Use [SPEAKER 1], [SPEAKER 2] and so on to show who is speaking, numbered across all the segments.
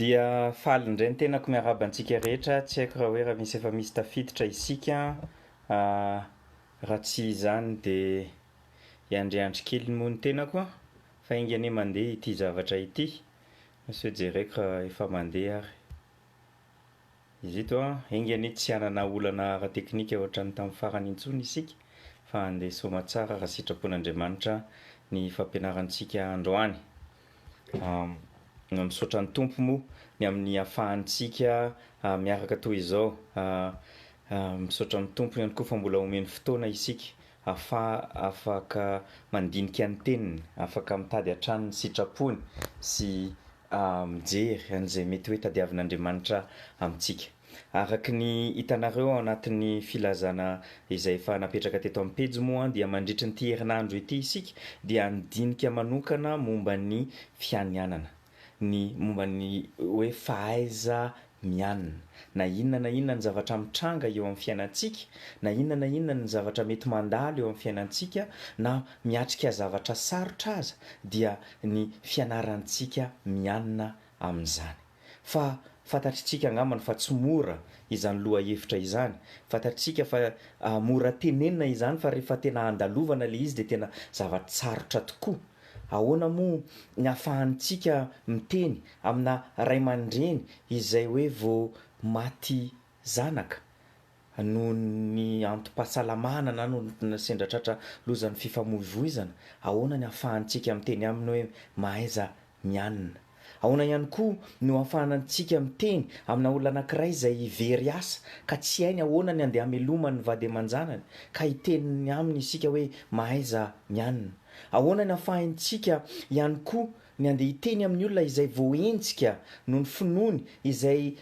[SPEAKER 1] Dia faly indray ny tenako miarahaba antsika rehetra, tsy haiko raha hoe raha misy efa misy tafiditra isika an, raha tsy izany dia hiandriandry kely moa ny tenako an, fa enga anie mandeha ity zavatra ity, sao jereko raha efa mandeha ary. Izy ito an! Enga anie tsy hanana olana ara-teknika ohatran'ny tamin'ny farany intsony isika fa handeha soama tsara raha sitrapon'Andriamanitra ny fampianarantsika androany. Misaotra ny Tompo moa ny amin'ny ahafahantsika miaraka toy izao. Misaotra amin'ny Tompo ihany koa fa mbola omeny fotoana isika ahafaha afaka mandinika ny teniny, afaka mitady hatrany ny sitrapony sy a Mijery an'izay mety hoe tadiavin'Andriamanitra amintsika. Araka ny hitanareo ao anatin'ny filazana izay efa napetraka teto amin'ny pejy moa dia mandritry an'ity herinandro ity isika dia handinika manokana momba ny fianianana, ny momba ny hoe fahaiza mianina. Na inona na inona ny zavatra mitranga eo amin'ny fiainantsika, na inona na inona ny zavatra mety mandalo eo amin'ny fiainantsika, na miatrika zavatra sarotra aza, dia ny fianarantsika mianina amin'izany. Fa fantatritsika angambany fa tsy mora izany lohahevitra izany. Fantatritsika fa mora tenenina izany fa rehefa tena andalovana ilay izy dia tena zava-tsarotra tokoa. Ahoana moa ny ahafahantsika miteny amina ray aman-dreny izay hoe vao maty zanaka noho ny antom-pahasalamana na noho ny sendra tratra lozan'ny fifamoivoizana? Ahoana ny ahafahantsika miteny aminy hoe mahaiza mianina? Ahoana ihany koa no ahafahantsika miteny amina olona anankiray izay very asa ka tsy hainy ahoana ny handeha hamelomany ny vady aman-janany ka hiteny aminy isika hoe mahaiza mianina? Ahoana ny ahafahantsika ihany koa ny handeha hiteny amin'ny olona izay voaenjika noho ny finoany, izay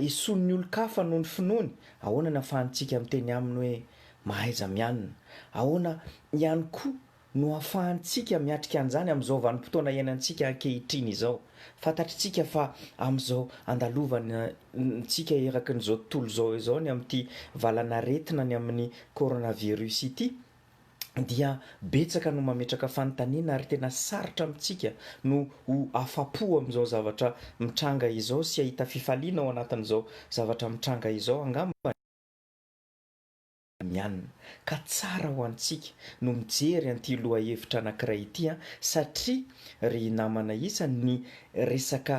[SPEAKER 1] esoin'ny olon-kafa noho ny finoany? Ahoana ny ahafahantsika miteny aminy hoe mahaiza mianina? Ahoana ihany koa no ahafahantsika miatrika an'izany amin'izao vanim-potoana iainantsika ankehitriny izao. Fantatritsika fa amin'izao andalovantsika eraky ny izao tontolo izao izao ny amin'ity valan'aretina ny amin'ny coronavirus ity dia betsaka no mametraka fanontaniana ary tena sarotra amintsika no ho afa-po amin'izao zavatra mitranga izao sy hahita fifaliana ao anatin'izao zavatra mitranga izao angambany. Iraniana, ka tsara ho antsika no mijery an'ity lohahevitra anankiray ity an, satria ry namana isany ny resaka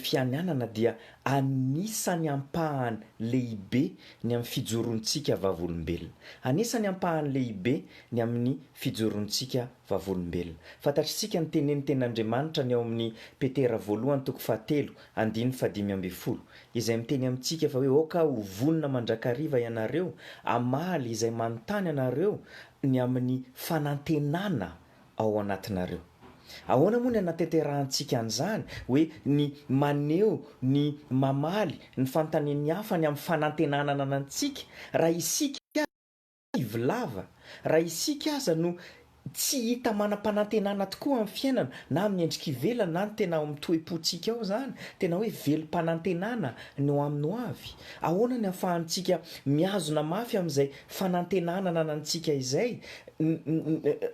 [SPEAKER 1] fianianana dia anisany ampahany lehibe ny amin'ny fijoroantsika vavolombelona. Anisany ampahany lehibe ny amin'ny fijoroantsika vavolombelona. Fantatr'isika ny tenenin'ny tenin'Andriamanitra ny ao amin'ny Petera voalohany toko fahatelo andininy fahadimy ambin'ny folo, izay miteny amintsika fa hoe aoka ho vonona mandrakariva ianareo hamaly izay manontany anareo ny amin'ny fanantenana ao anatinareo. Ahoana moa ny anateterahantsika an'izany hoe ny maneho ny mamaly ny fanontanian'ny hafa ny amin'ny fanantenana ananantsika raha isika Kivy lava, raha isika aza no tsy hita manam-panantenana tokoa amin'ny fiainana, na amin'ny endrika ivelany na ny tena ao amin'ny toe-pontsika ao izany, tena hoe velom-panantenana ny ho amin'ny ho avy, ahoana ny ahafahantsika mihazona mafy amin'izay fanantenana ananantsika izay?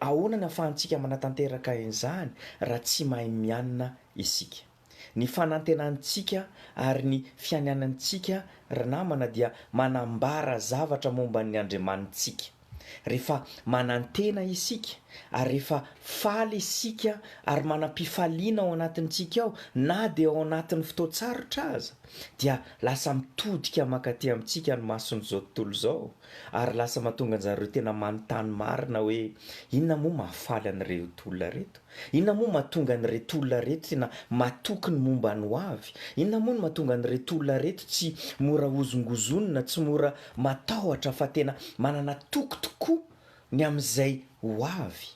[SPEAKER 1] Ahoana ny ahafahantsika manatanteraka an'izany raha tsy mahay mianina isika? Ny fanantenantsika ary ny fianianantsika, ry namana, dia manambara zavatra momba ny Andriamanitsika. Rehefa manantena isika, ary rehefa faly isika ary manam-pifaliana ao anatintsika ao, na dia ao anatin'ny fotoan-tsarotra aza, dia lasa mitodika mankaty amintsika ny mason'izao tontolo izao, ary lasa mahatonga anjareo tena manontany marina hoe, Inona moa mahafaly an'ireto olona ireto? Inona moa mahatonga an'ireto olona ireto tena matoky ny momba ny hoavy? Inona moa no mahatonga an'ireto olona ireto tsy mora hozongozonina, tsy mora matahotra fa tena manana toky tokoa ny amin'izay hoavy?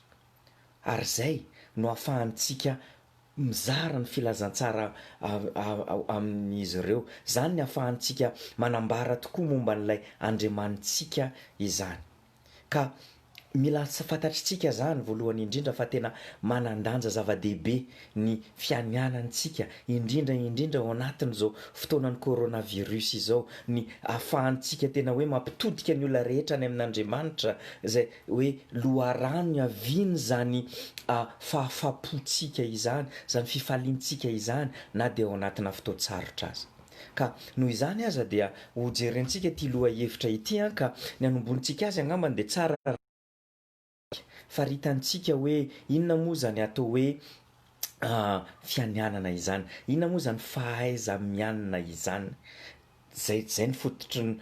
[SPEAKER 1] Ary izay no ahafahantsika mizara ny filazantsara amin'izy ireo. Izany no ahafahantsika manambara tokoa momba an'ilay Andriamanitsika izany. Ka mila fantatritsika zany voalohany indrindra fa tena manan-danja zava-dehibe ny fianianantsika indrindra indrindra ao anatin'izao fotoanan'ny coronavirus izao ny afahantsika tena hoe mampitodika ny olona rehetra any amin'Andriamanitra zay hoe loharano iavian'izany fahafapotsika izany, zany fifaliantsika izany na dia ao anatina fotoan-tsarotra aza. Ka noho izany aza dia ho jerentsika ity lohahevitra ity an ka ny hanomboantsika azy angambany dia tsara raha faritantsika hoe inona moa izany atao hoe fianianana izany, inona moa izany fahaiza-mianina izany, izay izay ny fototry ny.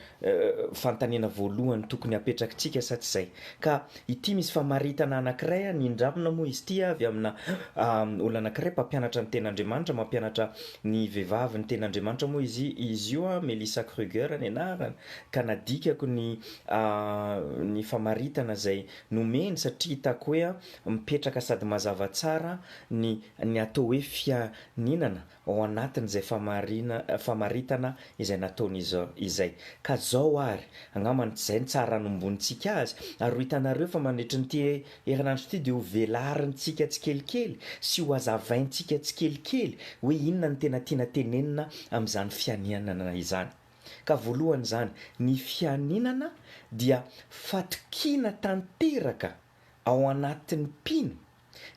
[SPEAKER 1] fanontaniana voalohany tokony hapetrakitsika sa tsy izay? Ka ity misy famaritana anankiray a, nindramina moa izy ity avy amina olona anankiray mpampianatra ny tenin'Andriamanitra, mampianatra ny vehivavy ny tenin'Andriamanitra moa izy izy io a, Melissa Kruger ny anarany, ka nadikako ny ny famaritana izay nomeny satria hitako hoe a mipetraka sady mazava tsara ny ny atao hoe fianinana ao anatin'izay famarina, famaritana izay nataon'izy izay. Ka zao ary, angambany tsy zay ny tsara anomboantsika azy, ary ho hitanareo fa mandritry n'ity herinandro ity dia ho velarintsika tsikelikely sy ho hazavaintsika tsikelikely hoe inona no tena tiana tenenina amin'izany fianianana izany. Ka voalohany izany, ny fianinana dia fatokiana tanteraka ao anatin'ny mpino,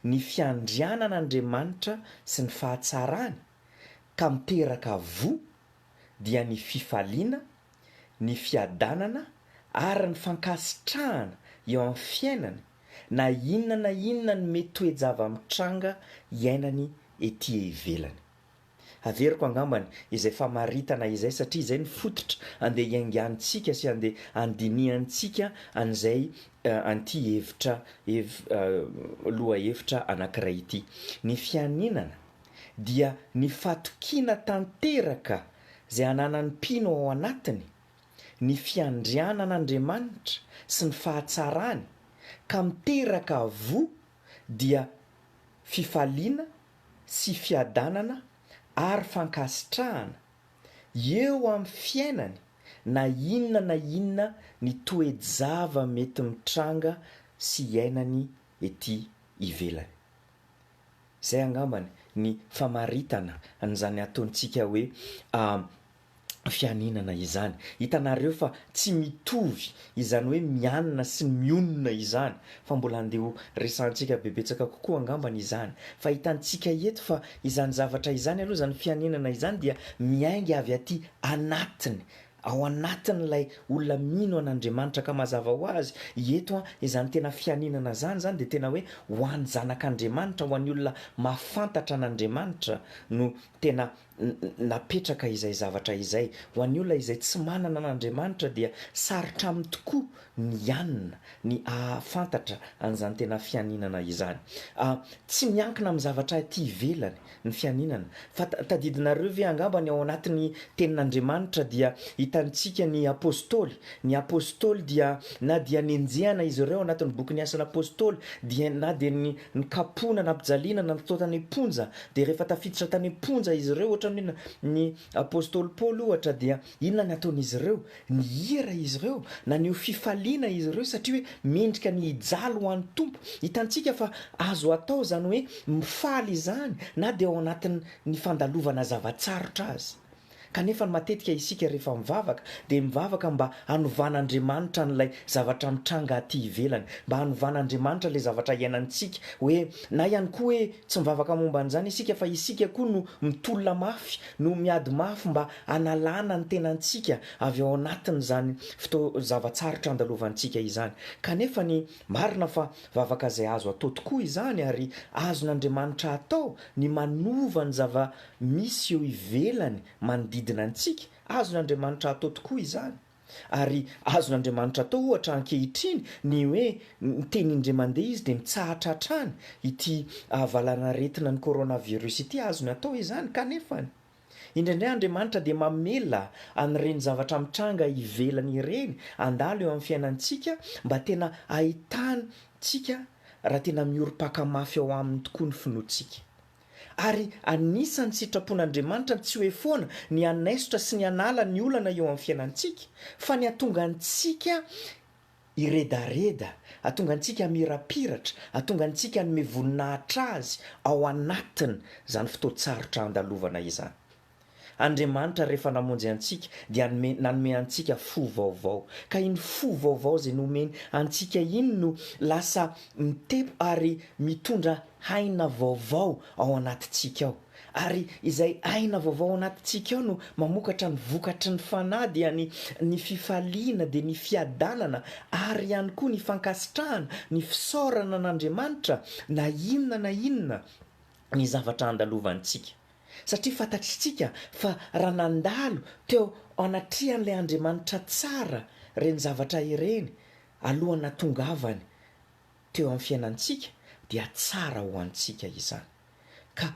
[SPEAKER 1] ny fiandrianan'Andriamanitra sy ny fahatsarany ka miteraka voa dia ny fifaliana, ny fiadanana ary ny fankasitrahana eo amin'ny fiainany na inona na inona ny mety toe-java-mitranga iainany ety ivelany. Haveriko angambany izay famaritana izay satria izay ny fototra andeha hiaingantsika sy andeha handinihantsika an'izay an'ity hevitra hev lohahevitra anankiray ity. Ny fianinana dia ny fatokiana tanteraka izay ananan'ny mpino ao anatiny ny fiandrianan'Andriamanitra sy ny fahatsarany ka miteraka avoa dia fifaliana, sy fiadanana ary fankasitrahana eo amin'ny fiainany na inona na inona ny toe-java mety mitranga sy iainany ety ivelany. Izay angambany ny famaritana an'izany ataontsika hoe fianinana izany. Hitanareo fa tsy mitovy izany hoe mianina sy ny mionona izany fa mbola andeha ho resahantsika be betsaka kokoa angambany izany fa hitantsika eto fa izany zavatra izany aloha izany fianinana izany dia miainga avy aty anatiny ao anatin'ilay olona mino an'Andriamanitra ka mazava ho azy eto an izany tena fianinana izany izany dia tena hoe ho an'ny zanak'Andriamanitra ho an'ny olona mahafantatra an'Andriamanitra no tena napetraka izay zavatra izay. Ho an'ny olona izay tsy manana an'Andriamanitra dia sarotra aminy tokoa ny hianina, ny hahafantatra an'izany tena fianinana izany. Tsy miankina amin'ny zavatra aty ivelany ny fianinana, fa tadidinareo ve angamba ny ao anatin'ny Tenin'Andriamanitra dia hitantsika ny Apostoly, ny Apostoly dia na dia nenjehana izy ireo anatin'ny bokin'ny Asan'Apostoly, dia na dia ny nikapohina, nampijaliana, nantontoana any am-ponja, Dia rehefa tafiditra tany am-ponja izy ireo, ohatra ny hoe ny apostoly Paoly ohatra, dia inona no nataon'izy ireo? Nihira izy ireo, naneho fifaliana izy ireo satria hoe mendrika ny hijaly ho an'ny Tompo. Hitantsika fa azo atao izany hoe mifaly izany na dia ao anatin'ny fandalovana zava-tsarotra aza. Kanefa ny matetika isika rehefa mivavaka dia mivavaka mba hanovan'Andriamanitra an'ilay zavatra mitranga aty ivelany, mba hanovan'Andriamanitra ilay zavatra iainantsika hoe, na ihany koa hoe tsy mivavaka momba an'izany isika fa isika koa no mitolona mafy, no miady mafy mba hanalana ny tenantsika avy ao anatin'izany fotoan-java-tsarotra andalovantsika izany. Kanefa ny marina fa vavaka izay azo atao tokoa izany ary azon'Andriamanitra atao ny manova ny zava Misy eo ivelany manodidina antsika, azon'Andriamanitra atao tokoa izany. Ary azon'Andriamanitra atao, ohatra, ankehitriny, ny hoe miteny indray mandeha Izy dia mitsahatra hatrany ity valanaretinan'ny coronavirus ity, azony atao izany. Kanefa, indraindray Andriamanitra dia mamela an'ireny zavatra mitranga ivelany ireny handalo eo amin'ny fiainantsika mba tena hahitantsika raha tena miorim-paka mafy ao Aminy tokoa ny finoantsika. Ary anisan'ny sitrapon'Andriamanitra ny tsy hoe foana ny hanaisotra sy ny hanala ny olana eo amin'ny fiainantsika, fa ny hahatonga antsika hiredareda, hahatonga antsika hamirapiratra, hahatonga antsika hanome voninahitra Azy ao anatin'izany fotoan-tsarotra andalovana izany. Andriamanitra rehefa namonjy antsika dia anome nanome antsika fo vaovao. Ka iny fo vaovao izay nomeny antsika iny no lasa mitepo ary mitondra aina vaovao ao anatintsika ao. Ary izay aina vaovao ao anatintsika ao no mamokatra ny vokatry ny Fanahy dia ny ny fifaliana dia ny fiadanana ary ihany koa ny fankasitrahana, ny fisaorana an'Andriamanitra na inona na inona ny zavatra andalovantsika. Satria fantatritsika fa raha nandalo teo anatrehan'ilay Andriamanitra tsara ireny zavatra ireny alohan'ny natongavany teo amin'ny fiainantsika dia tsara ho antsika izany. Ka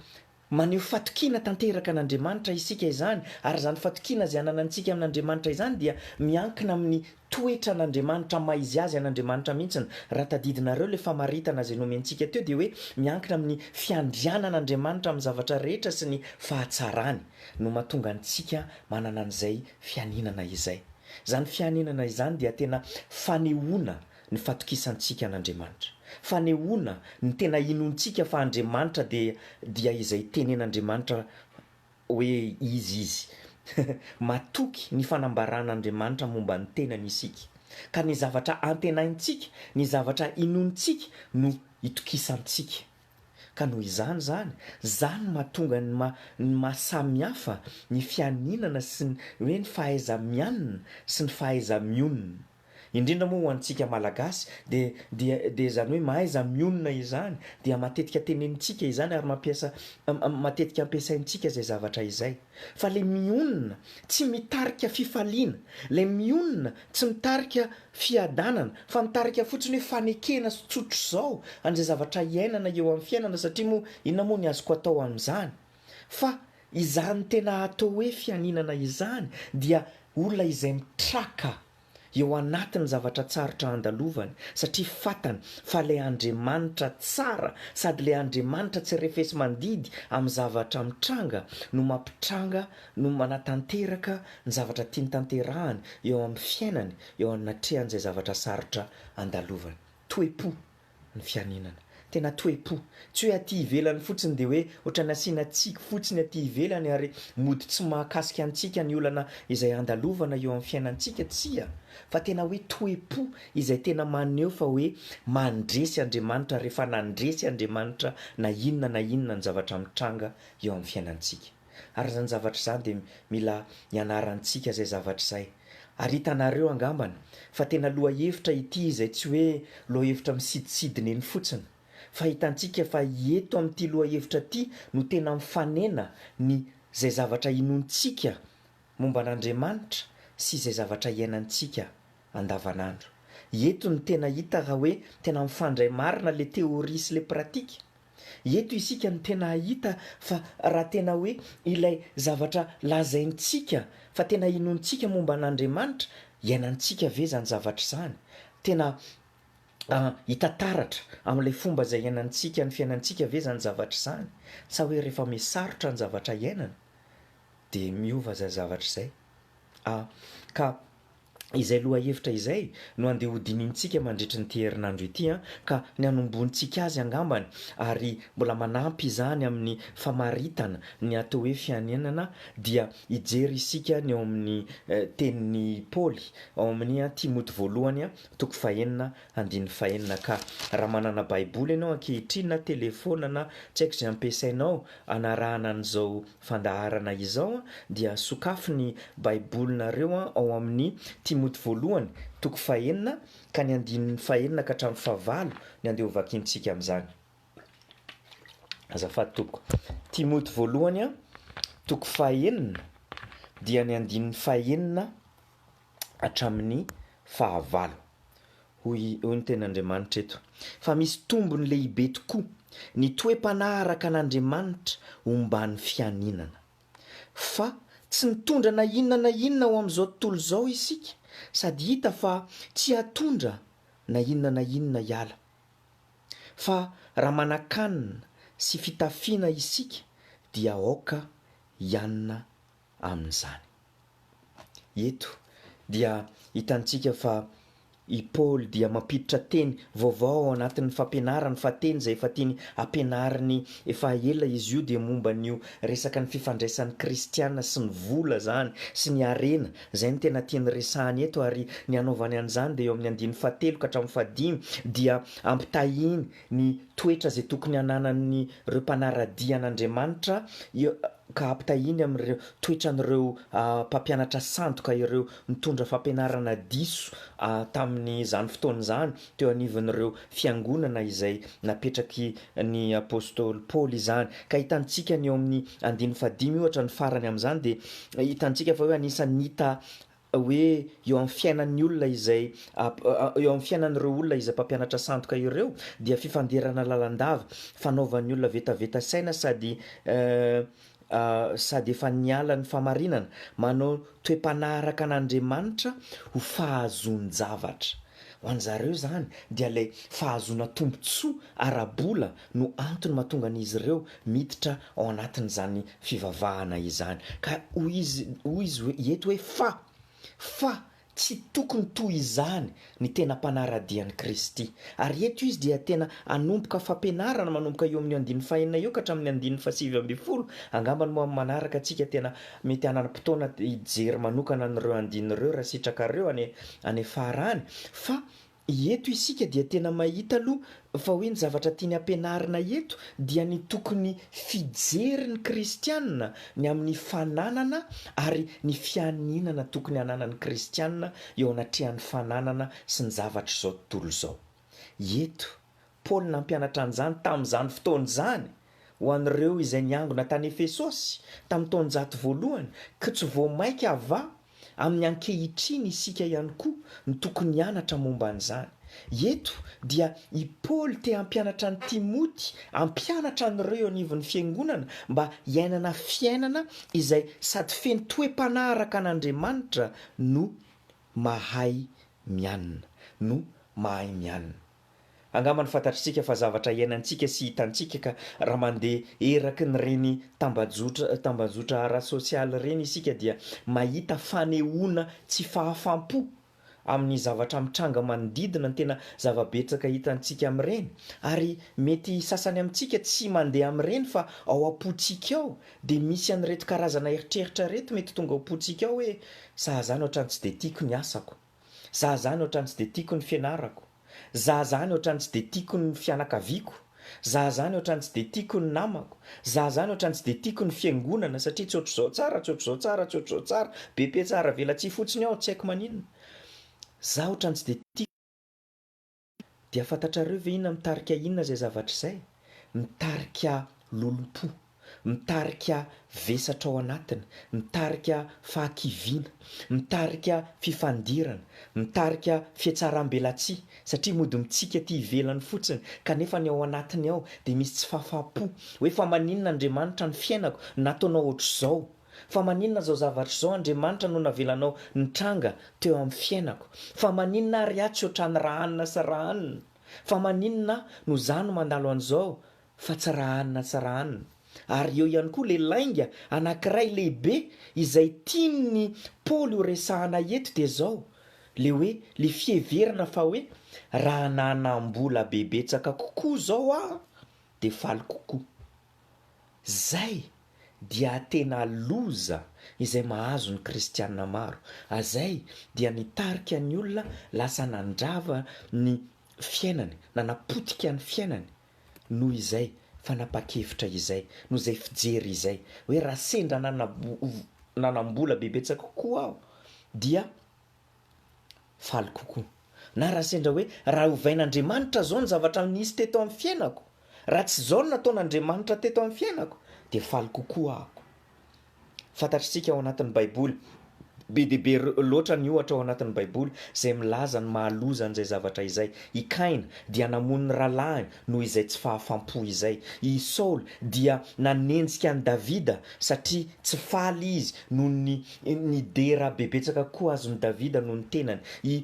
[SPEAKER 1] maneho fatokiana tanteraka an'Andriamanitra isika izany ary izany fatokiana izay ananantsika amin'Andriamanitra izany dia miankina amin'ny Toetra an'Andriamanitra maha izy azy an'Andriamanitra mihitsiny. Raha tadidinareo ilay famaritana izay nomentsika teo dia hoe miankina amin'ny fiandrianan'Andriamanitra amin'ny zavatra rehetra sy ny fahatsarany no mahatonga antsika manana an'izay fianinana izay. Izany fianinana izany dia tena fanehoana ny fatokisantsika an'Andriamanitra. Fanehoana ny tena inoantsika fa Andriamanitra dia dia izay tenen'Andriamanitra. Hoe izy izy. Matoky ny fanambaran'Andriamanitra momba ny tenany isika, ka ny zavatra antenaintsika, ny zavatra inoantsika no itokisantsika. Ka noho izany izany, izany no mahatonga ny maha ny maha samy hafa ny fianinana sy ny hoe ny fahaiza-mianina sy ny fahaiza-mionona. Indrindra moa ho antsika Malagasy dia dia dia izany hoe mahaiza mionona izany dia matetika tenenintsika izany ary mampiasa matetika ampiasaintsika izay zavatra izay. Fa ilay mionona tsy mitarika fifaliana, ilay mionona tsy mitarika fiadanana fa mitarika fotsiny hoe fanekena sy tsotr'izao an'izay zavatra iainana eo amin'ny fiainana satria moa inona moa ny azoko atao amin'izany? Fa izany tena atao hoe fianinana izany dia olona izay mitraka eo anatin'ny zavatra tsarotra andalovany satria fatany fa ilay Andriamanitra tsara sady ilay Andriamanitra tsy refesi-mandidy amin'ny zavatra mitranga no mampitranga no manatanteraka ny zavatra tiany tanterahany eo amin'ny fiainany eo anatrehan'izay zavatra sarotra andalovany. Toe-po. ny fianinana. Tena toe-po. Tsy hoe aty ivelany fotsiny dia hoe ohatran'ny asiana tsiky fotsiny aty ivelany ary mody tsy mahakasika antsika ny olana izay andalovana eo amin'ny fiainantsika, tsia, fa tena hoe toe-po izay tena maneho fa hoe mandresy Andriamanitra ary efa nandresy Andriamanitra na inona na inona ny zavatra mitranga eo amin'ny fiainantsika. Ary izany zavatra izany dia mila ianarantsika izay zavatra izay. Ary hitanareo angambany fa tena lohahevitra ity izay tsy hoe lohahevitra misidisidina eny fotsiny. Fa hitantsika fa eto amin'ity lohahevitra ity no tena mifanena ny izay zavatra inoantsika momba an'Andriamanitra sy izay zavatra iainantsika andavanandro. Eto no tena hita raha hoe tena mifandray marina ilay théorie sy ilay pratique. Eto isika no tena hahita fa raha tena hoe ilay zavatra lazaintsika fa tena inoantsika momba an'Andriamanitra, iainantsika ve izany zavatra izany? Tena hita taratra amin'ilay fomba izay iainantsika ny fiainantsika ve izany zavatra izany? Sa hoe rehefa mihasarotra ny zavatra iainana dia miova izay zavatra izay? Ka. Izay lohahevitra izay no andeha hodinihintsika mandritry an'ity herinandro ity an, ka ny hanombohantsika azy angambany ary mbola manampy izany amin'ny famaritana ny atao hoe fianinana dia hijery isika ny ao amin'ny tenin'i Paoly ao amin'ny Timoty voalohany toko fahenina andininy fahenina ka raha manana baiboly ianao ankehitriny na telefaona na tsy haiko izay ampiasainao hanarahana an'izao fandaharana izao dia sokafy ny Baibolinareo ao amin'ny Timoty Voalohany toko fahenina ka ny andininy fahenina ka hatramin'ny fahavalo ny andeha hovakiantsika amin'izany azafady tompoko. Timoty Voalohany toko fahenina dia ny andininy fahenina hatramin'ny fahavalo. Hoy ny Tenin'Andriamanitra eto fa misy tombony lehibe tokoa ny toe-panahy araka an'Andriamanitra omban'ny fianinana. Fa tsy nitondra na inona na inona ho amin'izao tontolo izao isika sady hita fa tsy hatondra na inona na inona hiala. Fa raha manan-kanina sy fitafiana isika dia aoka hianina amin'izany. Eto dia hitantsika fa i Paoly dia mampiditra teny vaovao ao anatin'ny fampianarany fa teny izay efa tiany hampianariny efa ela izy io dia momba an'io resaka ny fifandraisan'ny kristiana sy ny vola izany sy ny harena, izay no tena tiany resahany eto ary ny hanaovany an'izany dia eo amin'ny andininy fahatelo ka hatramin'ny fahadimy dia ampitahiany ny toetra izay tokony hananan'ireo mpanara-dia an'Andriamanitra ka ampitahiany amin'ireo toetran'ireo mpampianatra sandoka ireo nitondra fampianarana diso tamin'izany fotoana izany teo anivon'ireo fiangonana izay napetraky ny apostoly Paoly izany. Ka hitantsika ny eo amin'ny andininy fahadimy ohatra ny farany amin'izany dia hitantsika fa hoe anisan'ny hita hoe eo amin'ny fiainan'ny olona izay eo amin'ny fiainan'ireo olona izay mpampianatra sandoka ireo dia fifanderana lalandava, fanaovan'ny olona vetaveta saina sady sady efa niala ny famarinana, manao toe-panahy araka an'Andriamanitra ho fahazoan-javatra. Ho an'izareo izany dia ilay fahazoana tombontsoa ara-bola no antony mahatonga an'izy ireo miditra ao anatin'izany fivavahana izany. Ka hoy izy, hoy izy hoe, eto hoe fa, fa tsy tokony toy izany ny tena mpanara-dia an'i Kristy. Ary eto izy dia tena hanomboka fampianarana manomboka eo amin'ny andininy fahenina eo ka hatramin'ny andininy fahasivy ambin'ny folo. Angamba ny moa amin'ny manaraka antsika tena mety hanana fotoana hijery manokana an'ireo andininy ireo raha sitrakareo any, any farany. Fa Eto isika dia tena mahita aloha fa hoe ny zavatra tiany hampianarina eto dia ny tokony fijery ny kristiana ny amin'ny fananana ary ny fianinana tokony hananan'ny kristiana eo anatrehan'ny fananana sy ny zavatr'izao tontolo izao. Eto Paoly nampianatra an'izany tamin'izany fotoana izany ho an'ireo izay niangona tany Efesosy tamin'ny taonjato voalohany, koa tsy vao mainka avy amin'ny ankehitriny isika ihany koa no tokony hianatra momba an'izany. Eto dia i Paoly te hampianatra an'i Timoty hampianatra an'ireo eo anivon'ny fiangonana mba hiainana fiainana izay sady feno toe-panahy araka an'Andriamanitra no mahay mianina, no mahay mianina. Angambany fantatr'isika fa zavatra iainantsika sy hitantsika ka raha mandeha eraky ny reny tambajotra tambajotra ara-sosialy ireny isika dia mahita fanehoana tsy fahafam-po amin'ny zavatra mitranga manodidina ny tena zava-betsaka hitantsika amin'ireny ary mety sasany amintsika tsy mandeha amin'ireny fa ao am-pontsika ao dia misy an'ireto karazana eritreritra ireto mety tonga ao am-pontsika ao hoe sahaza any ohatrany tsy dia tiako ny asako Za zany ohatrany tsy dia tiako ny fianarako, za zany ohatrany tsy dia tiako ny fianakaviako, za zany ohatrany tsy dia tiako ny namako, za zany ohatrany tsy dia tiako ny fiangonana satria tsy ohatr'izao tsara, tsy ohatr'izao tsara, tsy ohatr'izao tsara, be petsara velatsihy fotsiny ao, tsy haiko maninona, za ohatrany tsy dia tiako. Dia fantatrareo ve inona mitarika inona izay zavatra izay? Mitarika lolompo, mitarika vesatra ao anatiny, mitarika fahakiviana, mitarika fifandirana, mitarika fihatsaram-belatsihy, satria mody mitsiky aty ivelany fotsiny kanefa ny ao anatiny ao dia misy tsy fahafahampo hoe fa maninona Andriamanitra ny fiainako nataonao ohatr'izao? Fa maninona izao zavatra izao Andriamanitra no navelanao nitranga teo amin'ny fiainako? Fa maninona ary aho tsy ohatran'i Rahanina sy Rahanina? Fa maninona aho no izaho no mandalo an'izao fa tsy Rahanina sy Rahanina? Ary eo ihany koa ilay lainga anankiray lehibe izay tian'i Paoly ho resahana eto dia izao, ilay hoe ilay fiheverana fa hoe raha nanam-bola be betsaka kokoa izao aho dia faly kokoa. Zay dia tena loza izay mahazo ny kristiana maro azay dia nitarika ny olona lasa nandrava ny fiainany nanapotika ny fiainany noho izay fanapakevitra izay noho izay fijery izay hoe raha sendra nanambola bebetsaka kokoa aho dia Faly kokoa. Na raha sendra hoe raha ovain'Andriamanitra izao ny zavatra nisy teto amin'ny fiainako, raha tsy izao no nataon'Andriamanitra teto amin'ny fiainako, dia faly kokoa aho. Fantatr'isika ao anatin'ny Baiboly, be dia be loatra ny ohatra ao anatin'ny Baiboly izay milaza ny maha loza an'izay zavatra izay. I Kaina dia namono ny rahalahiny Noho izay tsy fahafam-po izay, i Saoly dia nanenjika an'i Davida satria tsy faly izy noho ny nidera bebetsaka koa azon'i Davida noho ny tenany. I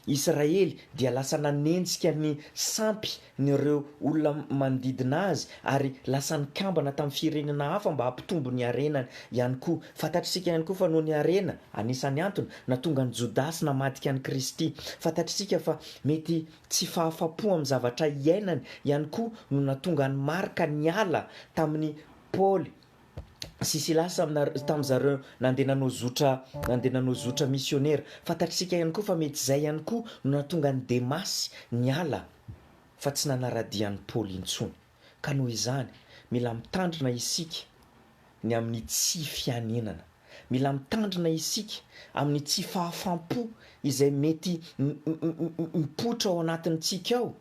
[SPEAKER 1] Israely dia lasa nanenjika ny sampy ny ireo olona manodidina azy ary lasa nikambana tamin'ny firenena hafa mba hampitombo ny harenany ihany koa. Fantatr'isika ihany koa fa noho ny harena, anisan'ny antony natonga an'i Jodasy namadika an'i Kristy. Fantatr'isika fa mety Tsy fahafapo amin'ny zavatra iainany ihany koa no nahatonga an'i Marka niala tamin'i Paoly sy Silasy tamin-dry zareo nandeha nanao zotra nandeha nanao zotra misionera. Fantatsika ihany koa fa mety izay ihany koa no nahatonga an'i Demasy niala fa tsy nanara-dia an'i Paoly intsony. Ka noho izany, mila mitandrina isika ny amin'ny tsy fianenana. Mila mitandrina isika amin'ny tsy fahafam-po izay mety mipoitra ao anatintsika ao,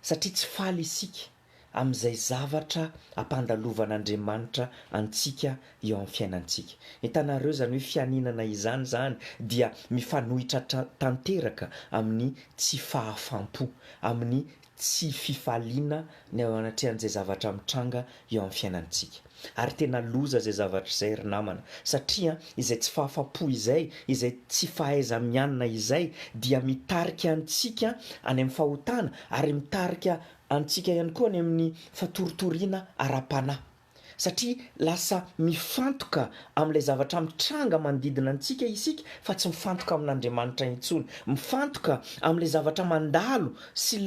[SPEAKER 1] satria tsy faly isika amin'izay zavatra ampandalovan'Andriamanitra antsika eo amin'ny fiainantsika. Hitanareo, izany hoe fianenana izany izany dia mifanohitra tanteraka amin'ny tsy fahafam-po, amin'ny tsy fifaliana ny eo anatrehan'izay zavatra mitranga eo amin'ny fiainantsika. Ary tena loza izay zavatra izay ry namana, satria izay tsy fahafapo izay, izay tsy fahaiza-mianina izay dia mitarika antsika any amin'ny fahotana ary mitarika antsika ihany koa any amin'ny fatoritoriana ara-panahy. satria lasa mifantoka amin'ilay zavatra mitranga manodidina antsika isika fa tsy mifantoka amin'Andriamanitra intsony, mifantoka amin'ilay zavatra mandalo sy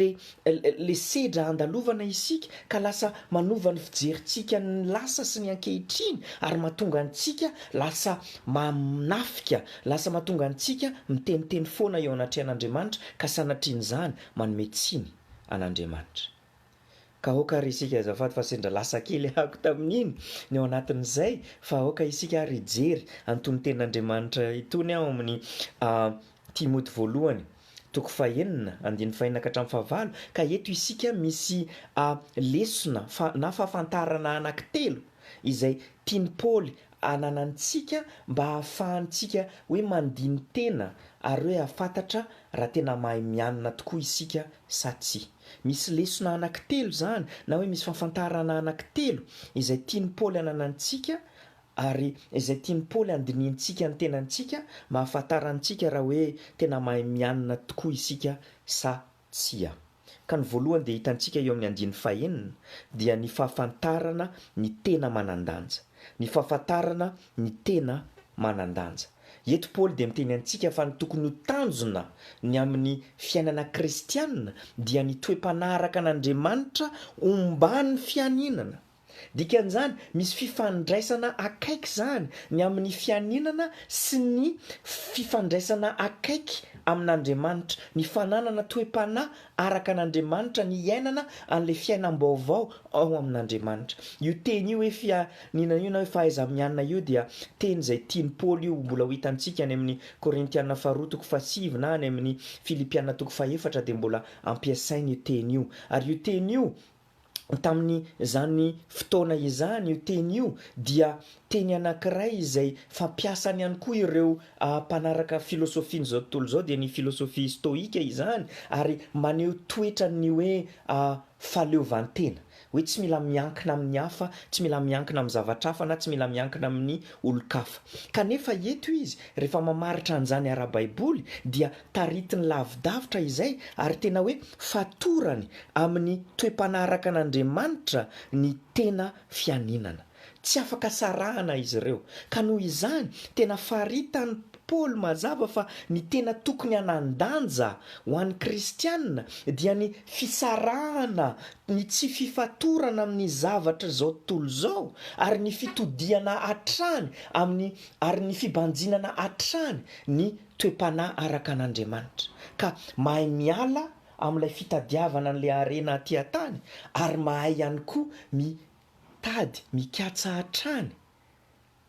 [SPEAKER 1] le sedra andalovana isika ka lasa manova ny fijerintsika ny lasa sy ny ankehitriny ary matonga antsika lasa manafika, lasa matonga antsika miteniteny foana eo anatrehan'Andriamanitra ka sanatrian'izany manome tsiny an'Andriamanitra. Ka aoka ary isika azafady fa sendra lasa kely ahako tamin'iny ny ao anatin'izay fa aoka isika ary hijery an'itony tenin'Andriamanitra itony ao amin'ny Timoty voalohany toko fahenina andininy fahenina ka hatramin'ny fahavalo ka eto isika misy lesona na fahafantarana anankitelo izay tian'i Paoly ananantsika mba hahafahantsika hoe mandini-tena ary hoe hahafantatra raha tena mahay mianina tokoa isika sa tsia. Misy lesona anankitelo izany na hoe misy fahafantarana anankitelo izay tian'i Paoly ananantsika ary izay tian'i Paoly handinihintsika ny tenantsika mba hahafantarantsika raha hoe tena mahay mianina tokoa isika sa Tsia. Ka ny voalohany dia hitantsika eo amin'ny andiany fahenina dia ny fahafantarana ny tena manan-danja. Ny fahafantarana ny tena manan-danja. Eto Paoly dia miteny antsika fa ny tokony ho tanjona ny amin'ny fiainana kristiana dia ny toe-panahy araka an'Andriamanitra omban'ny fianinana. Dikan'izany, misy fifandraisana akaiky izany ny amin'ny fianinana sy ny fifandraisana akaiky amin'Andriamanitra, ny fananana toe-panahy araka an'Andriamanitra, ny hiainana an'ilay fiainam-baovao ao amin'Andriamanitra. Io teny io hoe fianinana io na hoe fahaiza-mianina io dia teny izay tian'i Paoly io mbola ho hitantsika any amin'ny Korintiana faharoa toko fahasivy na any amin'ny Filipiana toko fahefatra dia mbola ampiasainy io teny io. Ary io teny io tamin'izany fotoana izany io teny io dia teny anankiray izay fampiasany ihany koa ireo mpanaraka filosofian'izao tontolo izao dia ny filosofia stoika izany ary maneho toetran'ny hoe fahaleovantena hoe tsy mila miankina amin'ny hafa, tsy mila miankina amin'ny zavatra hafa na tsy mila miankina amin'ny olon-kafa kanefa eto izy rehefa mamaritra an'izany ara-baiboly dia Taritiny lavidavitra izay ary tena hoe fatorany amin'ny toe-panaraka an'Andriamanitra ny tena fianinana. Tsy afaka sarahana izy ireo. Ka noho izany, tena faritan'i Paoly mazava fa ny tena tokony hanan-danja ho an'ny kristiana dia ny fisarahana ny tsy fifatorana amin'ny zavatr'izao tontolo izao ary ny fitodihana hatrany amin'ny ary ny fibanjinana hatrany ny toe-panahy araka an'Andriamanitra, ka mahay miala amin'ilay fitadiavana an'ilay harena aty an-tany, ary mahay ihany koa mitady, mikatsa hatrany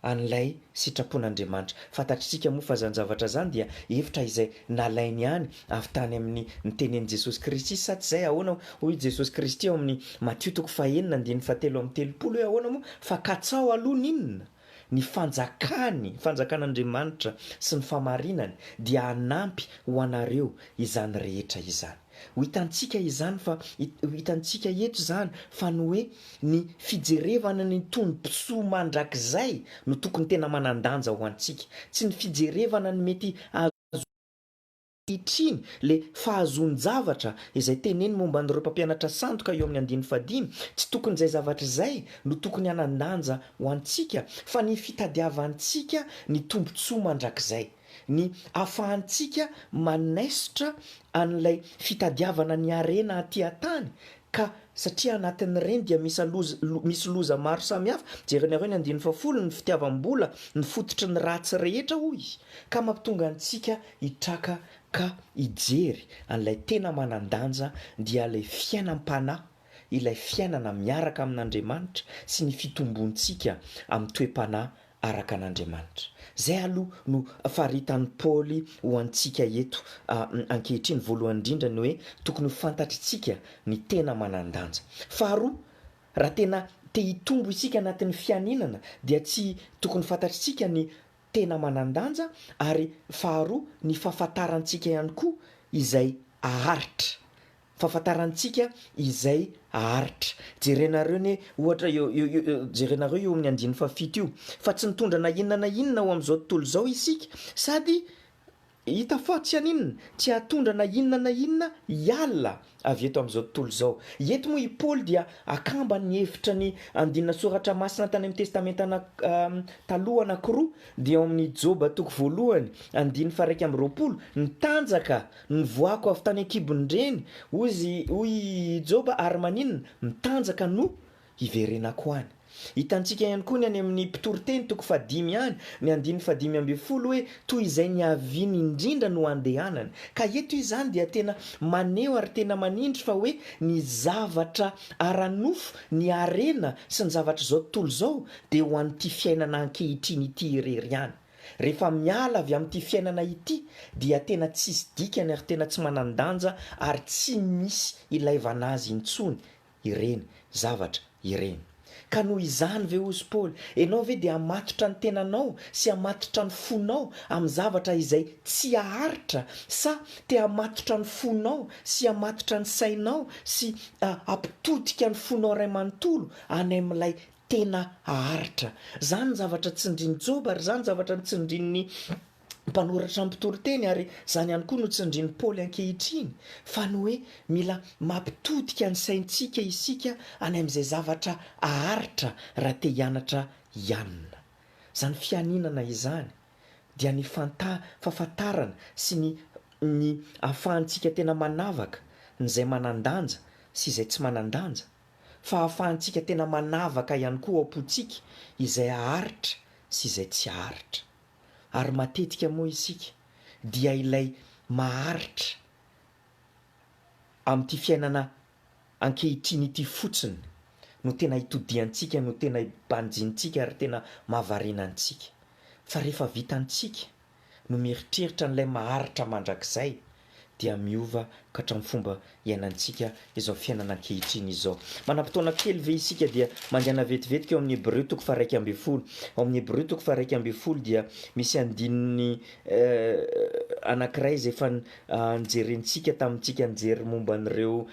[SPEAKER 1] an'ilay sitrapon'Andriamanitra. Fantatr'isika moa fa izany zavatra izany dia hevitra izay nalainy ihany avy tany amin'ny nitenenin'i Jesosy Kristy, sa tsy izay? Ahoana hoy i Jesosy Kristy ao amin'ny Matio toko fahenina andininy fahatelo amby telopolo hoe ahoana moa? Fa katsaho aloha ny inona? Ny fanjakany, fanjakan'Andriamanitra sy ny famarinany dia hanampy ho anareo izany rehetra izany. Ho hitantsika izany fa, ho hitantsika eto izany fa ny hoe ny fijerevana ny tombontsoa mandrakizay no tokony tena manan-danja ho antsika, tsy ny fijerevana ny mety hahazo. Ankehitriny, ilay fahazoan-javatra izay teneno momba an'ireo mpampianatra sandoka eo amin'ny andininy fahadimy, tsy tokony izay zavatra izay no tokony hanan-danja ho antsika, fa ny fitadiavantsika ny tombontsoa mandrakizay, ny ahafahantsika manaisotra an'ilay fitadiavana ny harena aty an-tany Ka satria anatin'ireny dia misy loza, misy loza maro samihafa, jerinareo ny andininy fahafolo, ny fitiavam-bola no fototry ny ratsy rehetra hoy izy, ka mampitonga antsika hitraka ka hijery an'ilay tena manan-danja dia ilay fiainam-panahy, ilay fiainana miaraka amin'Andriamanitra sy ny fitombontsika amin'ny toe-panahy araka an'Andriamanitra. Izay aloha no faritan'i Paoly ho antsika eto ankehitriny. Voalohany indrindra ny hoe tokony ho fantatr'itsika ny tena manan-danja. Faharoa, raha tena te hitombo isika anatin'ny fianinana dia tsy tokony fantatr'itsika ny tena manan-danja ary faharoa ny fahafantarantsika ihany koa izay aharitra Fahafantarantsika izay haharitra. Jerenareo anie ohatra eo, jerenareo eo amin'ny andininy fahafito io, fa tsy nitondra na inona na inona ho amin'izao tontolo izao isika sady hita fa tsy haninona, tsy hahatondra na inona na inona hiala avy eto amin'izao tontolo izao. Eto moa i Paoly dia akamba ny hevitra ny andinina soratra masina tany amin'ny Testamenta Taloha anankiroa, dia ao amin'ny Joba toko voalohany andininy faha iraika amby roapolo, ny tanjaka Nivoako avy tany an-kibon-dreny, hoy i Joba, ary maninona? Mitanjaka no hiverenako any. Hitantsika ihany koa ny any amin'ny Mpitoriteny toko fahadimy any, ny andininy fahadimy ambin'ny folo hoe, Toy izay niaviany indrindra no andehanany. Ka eto izany dia tena maneho ary tena manindry fa hoe ny zavatra ara-nofo, ny harena sy ny zavatr'izao tontolo izao dia ho an'ity fiainana ankehitriny ity irery ihany. Rehefa miala avy amin'ity fiainana ity dia tena tsisy dikany ary tena tsy manan-danja ary tsy misy ilaivana azy intsony ireny zavatra ireny. Ka noho izany ve hozy Paoly, enao ve dia hamatotra ny tenanao sy hamatotra ny fonao amin'ny zavatra izay tsy haharitra sa te hamatotra ny fonao sy hamatotra ny sainao sy hampitodika ny fonao iray manontolo any amin'ilay tena haharitra. Izany zavatra tsindrin'i Joba ary izany zavatra notsindrin'ny mpanoratra mpitoriteny ary izany ihany koa no tsindrin'i Paoly ankehitriny fa ny hoe mila mampitodika ny saintsika isika any amin'izay zavatra haharitra raha te hianatra hianina. Izany fianinana izany dia ny fahafantarana sy ny ny ahafahantsika tena manavaka ny izay manan-danja sy izay tsy manan-danja. fa ahafahantsika tena manavaka ihany koa ao am-pontsika izay haharitra sy izay tsy haharitra. Ary matetika moa isika dia ilay maharitra amin'ity fiainana ankehitriny ity fotsiny no tena itodihantsika, no tena ibanjintsika ary tena mahavariana antsika. Fa rehefa vitantsika. no mieritreritra an'ilay maharitra mandrakizay dia miova ka hatramin'ny fomba iainantsika izao fiainana ankehitriny izao. Manam-potoana kely ve isika dia mandehana vetivetika eo amin'ny Hebreo toko faharaika ambin'ny folo? Ao amin'ny Hebreo toko faharaika ambin'ny folo dia misy andininy anankiray izay efa nojerentsika tamintsika nijery momba an'ireo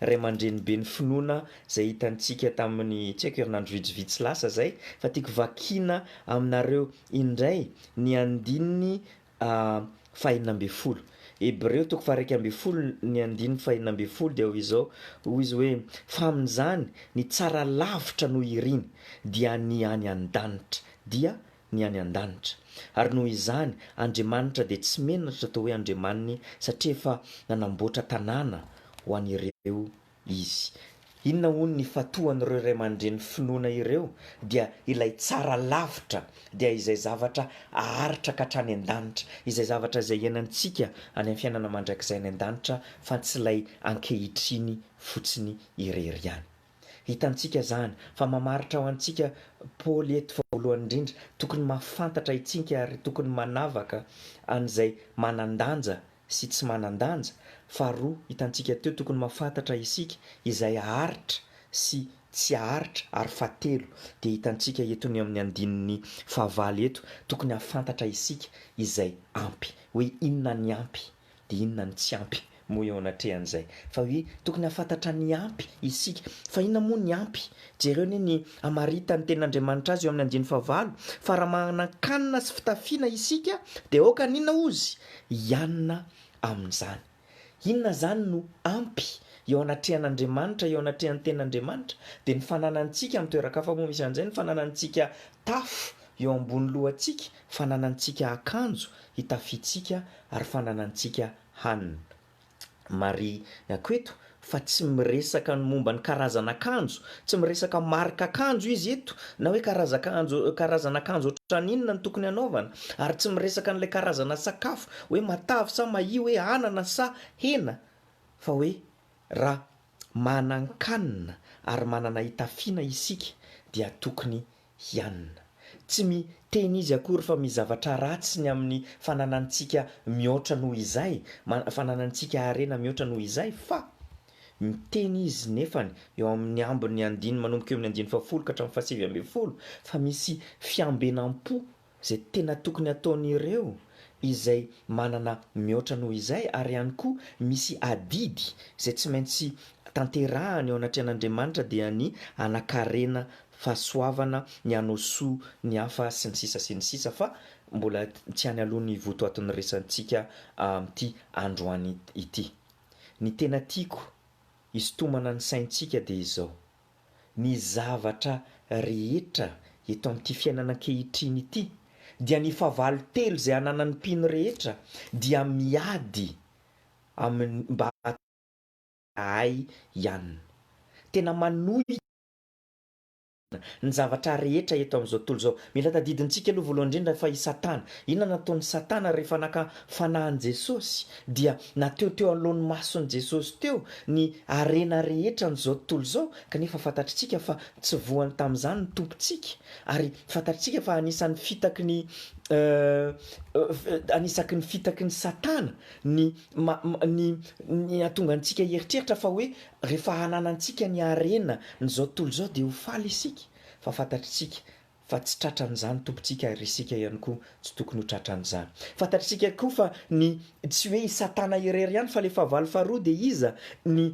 [SPEAKER 1] ray aman-dreny be ny finoana izay hitantsika tamin'ny tsy haiko herinandro vitsivitsy lasa izay fa tiako vakiana aminareo Indray, ny andininy fahenina ambin'ny folo. Hebreo toko faha-iraika ambin'ny folo ny andininy fahenina ambin'ny folo dia hoy izao, hoy izy hoe, Fa amin'izany ny tsara lavitra noho iriny, dia ny any an-danitra, dia ny any an-danitra. Ary noho izany, Andriamanitra dia tsy menatra atao hoe Andriamaniny, satria efa nanamboatra tanàna ho an'ireo. Izy. Inona hono ny fatohan'ireo ray aman-dreny finoana ireo dia ilay tsara lavitra, dia izay zavatra aharitra ka hatrany an-danitra, izay zavatra izay iainantsika any amin'ny fiainana mandrakizay any an-danitra fa tsy ilay ankehitriny fotsiny irery ihany. Hitantsika izany fa mamaritra ho antsika Paoly eto fa voalohany indrindra tokony mahafantatra itsinka ary tokony manavaka an'izay manan-danja sy tsy manan-danja, faharoa hitantsika teo tokony mahafantatra isika izay haharitra sy tsy haharitra ary fahatelo dia hitantsika eto ny amin'ny andininy fahavalo eto tokony hahafantatra isika izay ampy hoe inona ny ampy dia inona ny tsy ampy moa eo anatrehan'izay fa hoe tokony hahafantatra ny ampy isika fa inona moa ny ampy jereo anie ny hamaritan'ny tenin'Andriamanitra azy eo amin'ny andininy fahavalo fa raha manan-kanina sy fitafiana isika dia aoka ny inona ozy hianina amin'izany. Inona izany no ampy eo anatrehan'Andriamanitra, eo anatrehan'ny Tenin'Andriamanitra? Dia ny fananantsika, amin'ny toeran-kafa moa misy an'izay, ny fananantsika tafo eo ambony lohantsika, fananantsika akanjo hitafiantsika ary fananantsika hanina. Marihiko eto fa tsy miresaka ny momba ny karazan'akanjo, tsy miresaka marika akanjo izy eto na hoe karazan-kanjo karazan'akanjo ohatran'ny inona no tokony hanaovana ary tsy miresaka an'ilay karazana sakafo hoe matavy sa mahia hoe anana sa hena fa hoe raha manan-kanina ary manana hitafiana isika dia tokony hianina. Tsy mi teny izy akory fa mi zavatra ratsy ny amin'ny fananantsika mihoatra noho izay, ma, fananantsika harena mihoatra noho izay, fa mi teny izy nefany eo amin'ny ambin'ny andiny manomboka eo amin'ny andiny fahafolo ka hatramin'ny fahasivy ambin'ny folo fa misy fiambenam-po izay tena tokony ataon'ireo izay manana mihoatra noho izay ary ihany koa misy adidy izay tsy maintsy tanterahany eo anatrehan'Andriamanitra dia ny hanakarena fahasoavana, ny hanao soa ny hafa sy ny sisa sy ny sisa fa mbola tsy any aloha ny votoaton'ny resatsika amin'ity androany ity. Ny tena tiako hisintomana ny saintsika dia izao. Ny zavatra rehetra eto amin'ity fiainana ankehitriny ity dia ny fahavalo telo izay ananan'ny mpino rehetra dia miady amin'ny mba hahazoan'izahay ihany. Tena manohitra ny zavatra rehetra eto amin'izao tontolo izao. Mila tadidintsika aloha voalohany indrindra fa i Satana. Inona no nataon'i Satana rehefa naka fanahin'i Jesosy? dia na teo teo anoloan'ny mason'i Jesosy teo ny harena rehetra an'izao tontolo izao, kanefa fantatritsika fa tsy voany tamin'izany ny Tompontsika, ary fantatritsika fa anisan'ny fitaky ny anisaky ny fitaky ny Satana ny ny ny hahatonga antsika hieritreritra fa hoe rehefa hananantsika ny harena n'izao tontolo izao dia ho faly isika, fa fantatritsika fa tsy tratran'izany Tompontsika ary isika ihany koa tsy tokony ho tratran'izany. Fantatr'isika koa fa ny tsy hoe i Satana irery ihany fa ilay fahavalo faharoa dia iza? ny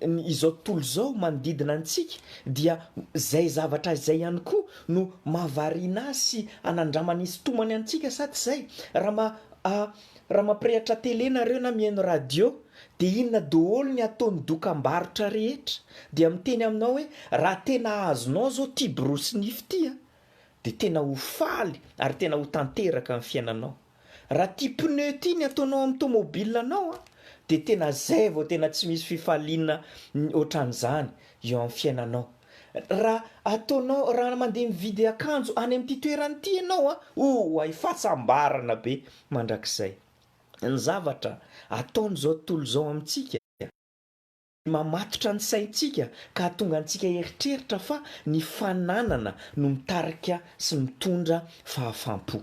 [SPEAKER 1] ny izao tontolo izao manodidina antsika dia izay zavatra izay ihany koa no mahavariana azy sy anandramany hisintomany antsika sa tsy izay? Raha ma raha mampirehatra tele nareo na mihaino radio Dia inona doholy ny ataony dokambarotra rehetra dia miteny aminao hoe raha tena azonao zao ty borosy nify ty a dia tena ho faly ary tena ho tanteraka ny fiainanao raha ty pneu ty ny ataonao amin'ny tomobile nao a dia tena zay vao tena tsy misy fifaliana otran'izany eo amin'ny fiainanao raha ataonao raha mandeha mividy akanjo any amin'ity toerana ity ianao a oay fahasambarana be mandrakizay. ny zavatra ataon'izao tontolo izao amintsika dia mamatotra ny saintsika ka hahatonga antsika hieritreritra fa ny fananana no mitarika sy mitondra fahafam-po.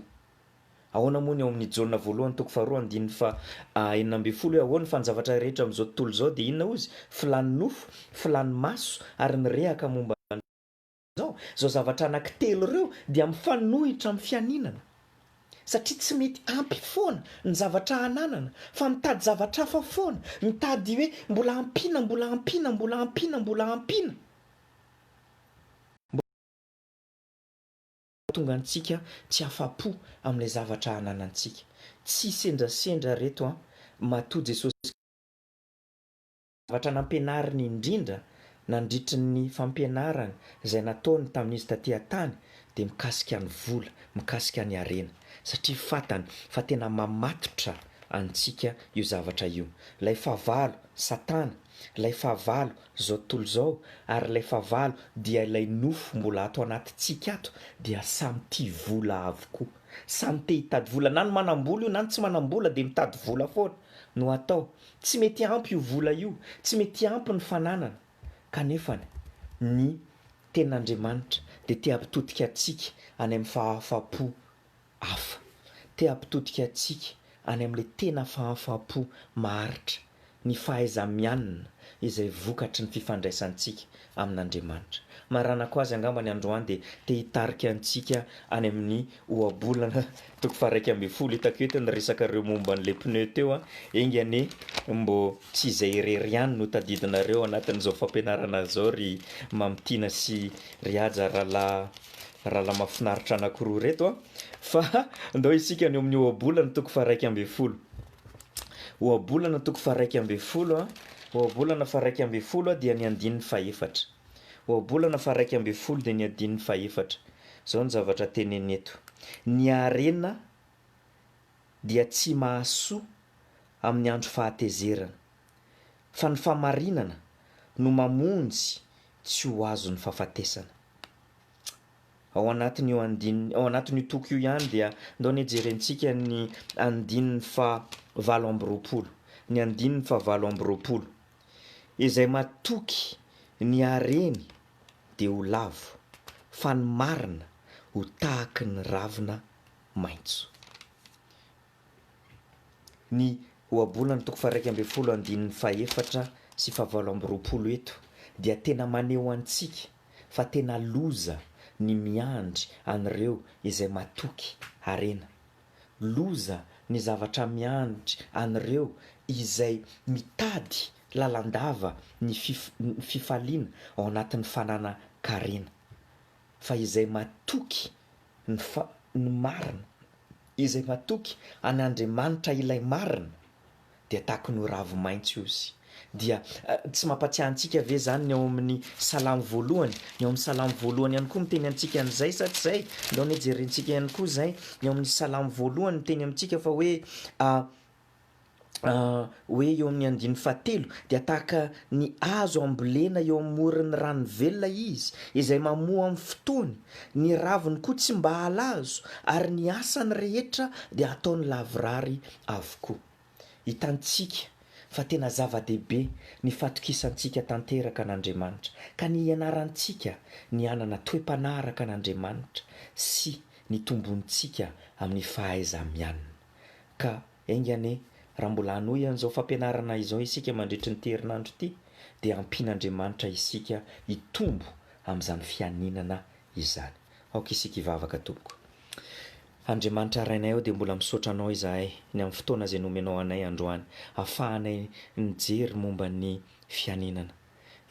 [SPEAKER 1] Ahoana moa ny ao amin'ny Jaona voalohany toko faharoa andininy faha enina ambin'ny folo hoe ahoany fa ny zavatra rehetra amin'izao tontolo izao dia inona hozy? Filàn'ny nofo, filàn'ny maso ary ny rehaka momba ny Izao, izao zavatra anankitelo ireo dia mifanohitra amin'ny fianinana, satria tsy mety ampy foana ny zavatra ananana, fa mitady zavatra hafa foana, mitady hoe mbola ampiana, mbola ampiana, mbola ampiana, mbola ampiana, mbola hahatonga antsika tsy afa-po amin'ilay zavatra ananantsika. Tsy sendrasendra ireto an! Matoa Jesosy Kristy. Zavatra nampianariny indrindra nandritry ny fampianarany izay nataony tamin'izy taty an-tany dia mikasika ny vola, mikasika ny harena, satria fantany fa tena mamatotra antsika io zavatra io. Ilay fahavalo, Satana, ilay fahavalo, izao tontolo izao, ary ilay fahavalo dia ilay nofo mbola ato anatintsika ato dia samy tia vola avokoa. Samy te hitady vola, na ny manam-bola io na ny tsy manam-bola dia mitady vola foana no atao. Tsy mety ampy io vola io, tsy mety ampy ny fananana, kanefa ny Tenin'Andriamanitra dia te hampitodika antsika any amin'ny fahafaham-po hafa, te hampitodika antsika any amin'ilay tena fahafaham-po maharitra, ny fahaiza-mianina izay vokatry ny fifandraisantsika amin'Andriamanitra. Maranako azy angamba ny androany dia te hitarika antsika any amin'ny ohabolana toko faharaika ambin'ny folo. Hitako eto ny resaka reo momba an'ilay pneu teo an! Enga anie mbô tsy izay irery ihany no tadidinareo anatin'izao fampianarana izao ry Mamy Tiana sy ry Haja rahalahy rahalahy mahafinaritra anankiroa ireto an! Fa ndao isika any amin'ny ohabolana toko faharaika ambin'ny folo. Ohabolana toko faharaika ambin'ny folo a Ohabolana faharaika ambin'ny folo a dia ny andininy fahefatra. Ohabolana faharaika ambin'ny folo dia ny andininy fahefatra. Izao ny zavatra teneniny eto, Ny harena dia tsy mahasoa amin'ny andro fahatezerana, fa ny fahamarinana no mamonjy tsy ho azon'ny fahafatesana. Ao anatin'io andininy, ao anatin'io toko io ihany dia ndao anie jerentsika ny andininy faha valo amby roapolo, ny andininy faha valo amby roapolo, Izay matoky ny hareny dia ho lavo, fa ny marina ho tahaky ny ravina maitso. Ny ohabolana toko faha-iraika ambin'ny folo andininy fahefatra sy fahavalo amby roapolo eto dia tena maneho antsika fa tena loza ny miandry an'ireo izay matoky harena. Loza ny zavatra miandry an'ireo izay mitady lalandava ny fifaliana ao anatin'ny fananan-karena. Fa izay matoky ny fa ny marina, izay matoky an' Andriamanitra ilay marina, dia takony ho ravi-maintso izy. Dia tsy mampatsiahy antsika ve izany ny ao amin'ny Salamo voalohany? Ny ao amin'ny Salamo voalohany ihany koa miteny antsika an'izay sa tsy izay? Aleo anie jerentsika ihany koa izay, ny ao amin'ny Salamo voalohany miteny amintsika fa hoe, hoe eo amin'ny andininy fahatelo, dia tahaka ny hazo ambolena eo amoron'ny rano velona izy, izay mamoa amin'ny fotoany, ny raviny koa tsy mba halazo, ary ny asany rehetra dia hataony lavorary avokoa. Hitantsika fa tena zava-dehibe ny fatokisantsika tanteraka an'Andriamanitra, ka ny hianarantsika ny hanana toe-panahy araka an'Andriamanitra sy ny tombointsika amin'ny fahaiza-mianina. Ka enga anie, raha mbola hanohy an'izao fampianarana izao isika mandritry ny teherinandro ity, dia ampian'Andriamanitra isika hitombo amin'izany fianinana izany. Aoka isika hivavaka, Tompoko. Andriamanitra Rainay ô, dia mbola misaotra Anao izahay ny amin'ny fotoana izay nomenao anay androany, ahafahanay nijery momba ny fianinana.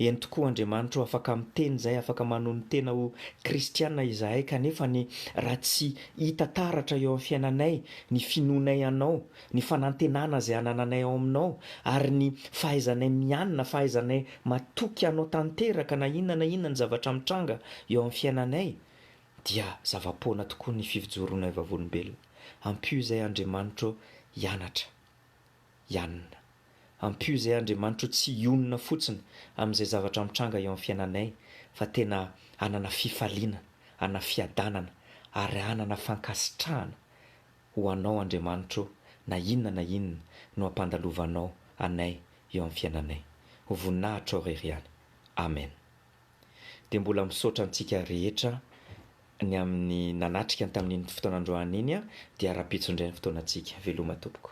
[SPEAKER 1] Eny tokoa, Andriamanitro afaka miteny izay afaka manony tena ho kristiana izahay, kanefa ny raha tsy hita taratra eo amin'ny fiainanay ny finoanay Anao, ny fanantenana izay anananay ao Aminao, ary ny fahaizanay mianina, fahaizanay matoky Anao tanteraka na inona na inona ny zavatra mitranga eo amin'ny fiainanay, dia zava-poana tokoa ny fivjoronay vavolombelona. Ampio izay Andriamanitro hianatra. Yanina. Ampio izay Andriamanitro tsy hionona fotsiny amin'izay zavatra mitranga eo amin'ny fiainanay fa tena hanana fifaliana, hanana fiadanana ary hanana fankasitrahana ho Anao Andriamanitro na inona na inona no ampandalovanao anay eo amin'ny fiainanay. Ho voninahitrao irery ihany. Amen. Dia mbola misaotra antsika rehetra ny amin'ny nanatrika ny tamin'iny fotoana androany iny dia rahampitso indray ny fotoanantsika. Veloma tompoko.